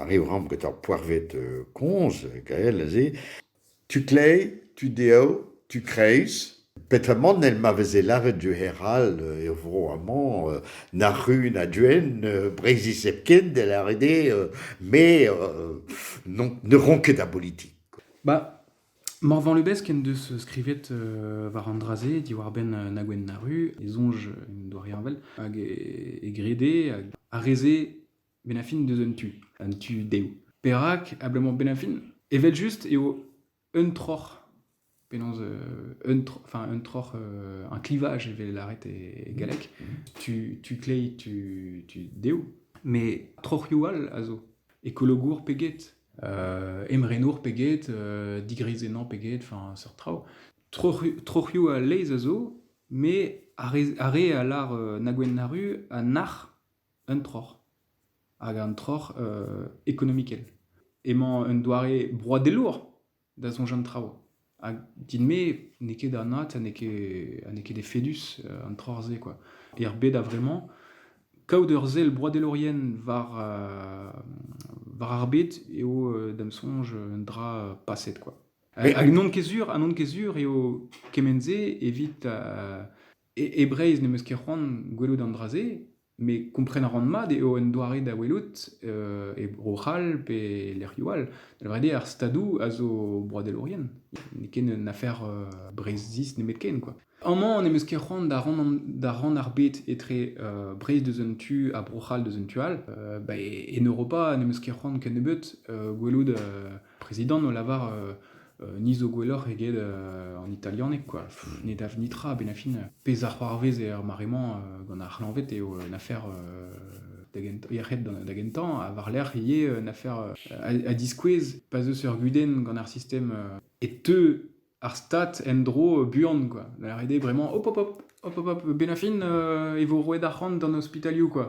Arriv 'raomp gant ur poerved kozh gael aze. Tu kleiz, tu dev, tu kreiz. Petamant èl ma veze lâret du hec'h all er vro amañ nac'hu na duen Breizhiz hepken da lâret eo me n'on ket a bolitik. Morvan Lubezk en deus skrivet euh, war an dra-se diwar-benn euh, Nagwen Naru, e soñj en doa reñvel, hag e, e grede hag a reze Benafin deus un tu, un tu dezho. Perak abalamour Benafin Evel-just eo un troc'h, penaos euh, un, tro- enfin, un troc'h, euh, un clivage evel lâret e, e galleg, tu, tu klei, tu, tu dezho, mais troc'hioù all a zo, ekologour pe get. emrenour pe get, digreizennañ pe get, enfin seurt traoù. Troc'h- troc'hioù a laezh a zo, met ar re- ar re a lar na gwenn na ru a nac'h un troc'h, hag un troc'h ekonomikel. Emañ un doare broadelour da soñj an traoù. Ha din-me n'eo ket anat ha n'eo ket ha n'eo ket efedus an troc'h-se kwa. Er bed a-vremañ, kaout ur sell broadelourien war war ar bed eo da'm soñj un dra paset kwa. Hag n'on ket sur ha n'on ket sur eo kement-se evit e Breizh n'em eus ket c'hoant gwelout an dra-se Mais kompren a ran mat eo un doare da welout e Bro-C'hall pe e lec'hioù all. Da lavaret eo ar Stadoù a zo broadelourien. N'eo ket un afer Breizhiz nemetken, quoi. Amañ n'em eus ket c'hoant da ran da ran ar bed etre Breizh deus un tu ha Bro-C'hall deus un tu all. Bah en Europa n'em eus ket c'hoant kennebeut gwelout prezidant o lavar ni zo gwelloc'h eget an italianeg quoi. ne dav nitra benn fin pezh a c'hoarvez er mare-mañ gant ar c'hleñved eo un afer da gentañ ha war-lerc'h ivez un afer a diskouez pa zeus ur gudenn gant ar sistem e teu ar stat en-dro buan quoi. Da ret eo bremañ hop hop hop hop hop hop benn fin e vo roet arc'hant d'an ospitalioù quoi.